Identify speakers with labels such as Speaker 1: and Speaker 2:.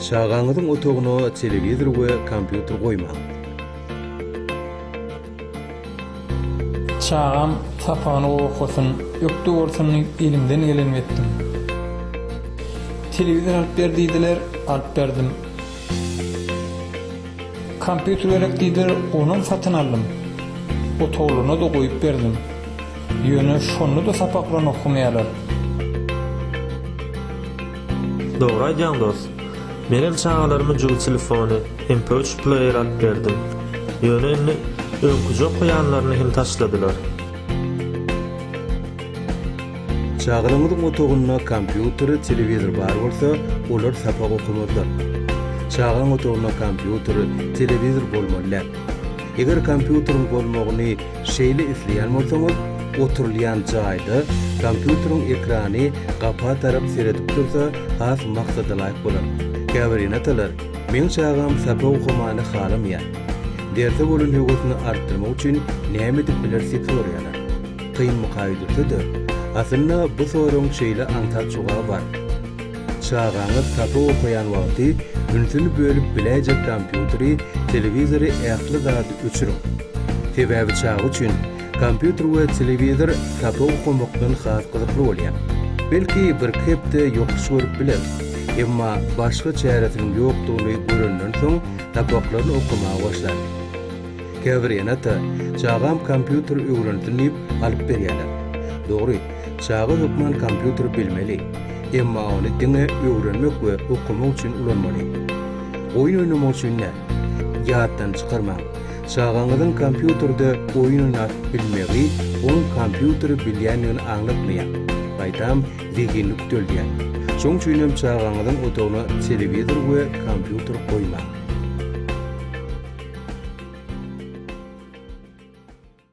Speaker 1: Çagaňyzyň otagyna telewizor we kompýuter goýmaň.
Speaker 2: Çagam sapany gowy okasyn, ökde bolsun diýip elimden gelenimi etdim. Telewizor alyp ber diýdiler, alyp berdim. Kompýuter gerek diýdiler, onam satyn aldym. Otaglyna-da goýup berdim. Ýöne şonda-da sapaklaryny okamaýarlar.
Speaker 3: Dogry aýdýaň dost. Menem çagalaryma jübi telefony, mp3 pleýeri alyp berdim. Ýöne indi öňküje okaýanlaryny hem taşladylar.
Speaker 1: Çagalaryňyzyň otagynda kompýuter, telewizor bar bolsa, olar sapak okamazlar. Çagaň otagynda kompýuter, telewizor bolmaly däl. Eger kompýuteriň bolmagyny şeýle isleýän bolsaňyz, oturylýan jaýda kompýuteriň ekrany gapa tarap seredip dursa has maksadalaýyk bolar. Käbir ene-atalar Meň çagam sapa okamany halamaýar. Derse bolan höwesini artdyrmak üçin näme edip bileris diýip soraýarlar. Kynmyka öýdülse-de, aslynda bu soragyň şeýle aňsat jogaby bar. Çagaňyz sapa okaýan wagty ünsüni bölüp biläýjek kompýuteri, telewizory ähli zady öçüriň. Sebäbi çaga üçin Kompýuter we telewizor sapa okamakdan has gyzykly bolýar. Belki birki hepde ýokuş görüp biler. Emma başga çäresiniň ýokdugyny görenden soň sapaklaryny okamaga başlar. Käbir ene-ata çagam kompýuter öwrensin diýip alyp berýärler. Dogry, çaga hökman kompýuter bilmeli. Emma ony diňe öwrenmek we okamak üçin ulanmaly. Oýun oýnamak üçin däl. Ýatdan çykarmaň, Çagaňyzyň kompýuterde oýun oýnap bilmegi onuň kompýuteri bilýändigini aňlatmaýar. Gaýtam, zehinini küteldýär. Şoň üçin hem çagaňyzyň otagyna telewizor we kompýuter goýmaň.